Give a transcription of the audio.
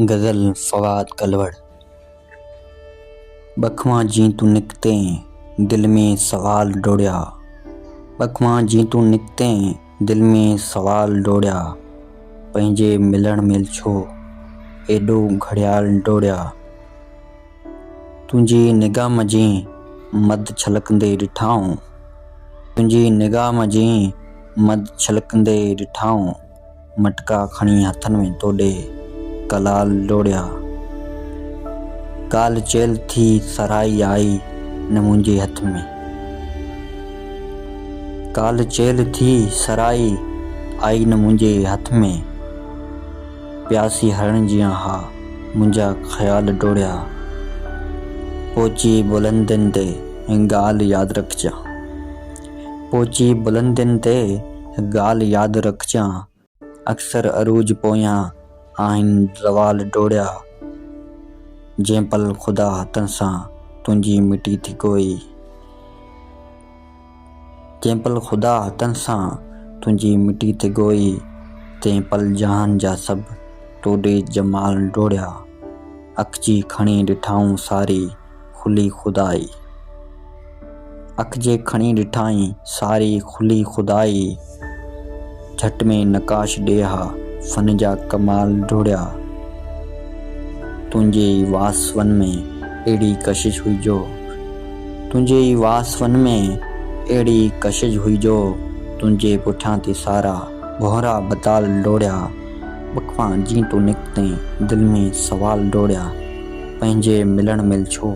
غزل، فواد ڪلوڙ. ٻک مان جئين تون نڪتين، دل ۾ سوال ڊوڙيا. ٻک مان جئين تون نڪتين، دل ۾ سوال ڊوڙيا. پنهنجي ملڻ ميل ڇو، ايڏو گهڙيال ڊوڙيا. تنهنجي نگاهه مان جئين، مڌ ڇلڪندي ڏٺائون. تنهنجي نگاهه مان جئين، مڌ ڇلڪندي ڏٺائون. مٽڪا کڻي هٿن ۾ توڏي ڪلال ڊوڙيا. ڪالهه چيل ٿي سرهائي آئي نه منهنجي هٿ ۾. ڪالهه چيل ٿي سرهائي آئي نه منهنجي هٿ ۾. پياسي هرڻ جيان ها منهنجا خيال ڊوڙيا. پوچي بلندين تي ڳالهه ياد رکجان. پهچي بلندين تي ڳالهه ياد رکجان. اڪثر عروج پويان آهن زوال ڊوڙيا. جنهن پل خدا هٿن سان تنهنجي مٽي ٿي ڳوئي. جنهن پل خدا هٿن سان تنهنجي مٽي ٿي ڳوئي. تنهن پل جهان جا سڀ توڏي جمال ڊوڙيا. اکجي کڻي ڏٺائون ساري. کلي خدائي. اک جي کڻي ڏٺائين ساري کلي خدائي. جهٽ ۾ نقاش ڏيها فن جا ڪمال ڊوڙيا. تنهنجي ئي واسون ۾ اهڙي ڪشش هئي جو. تنهنجي ئي واسون ۾ اهڙي ڪشش هئي جو. تنهنجي پٺيان ٿي سارا ڀونرا بتال ڊوڙيا. بکوان جيئن تون نڪتين، دل ۾ سوال ڊوڙيا، پنهنجي ملڻ مل ڇو؟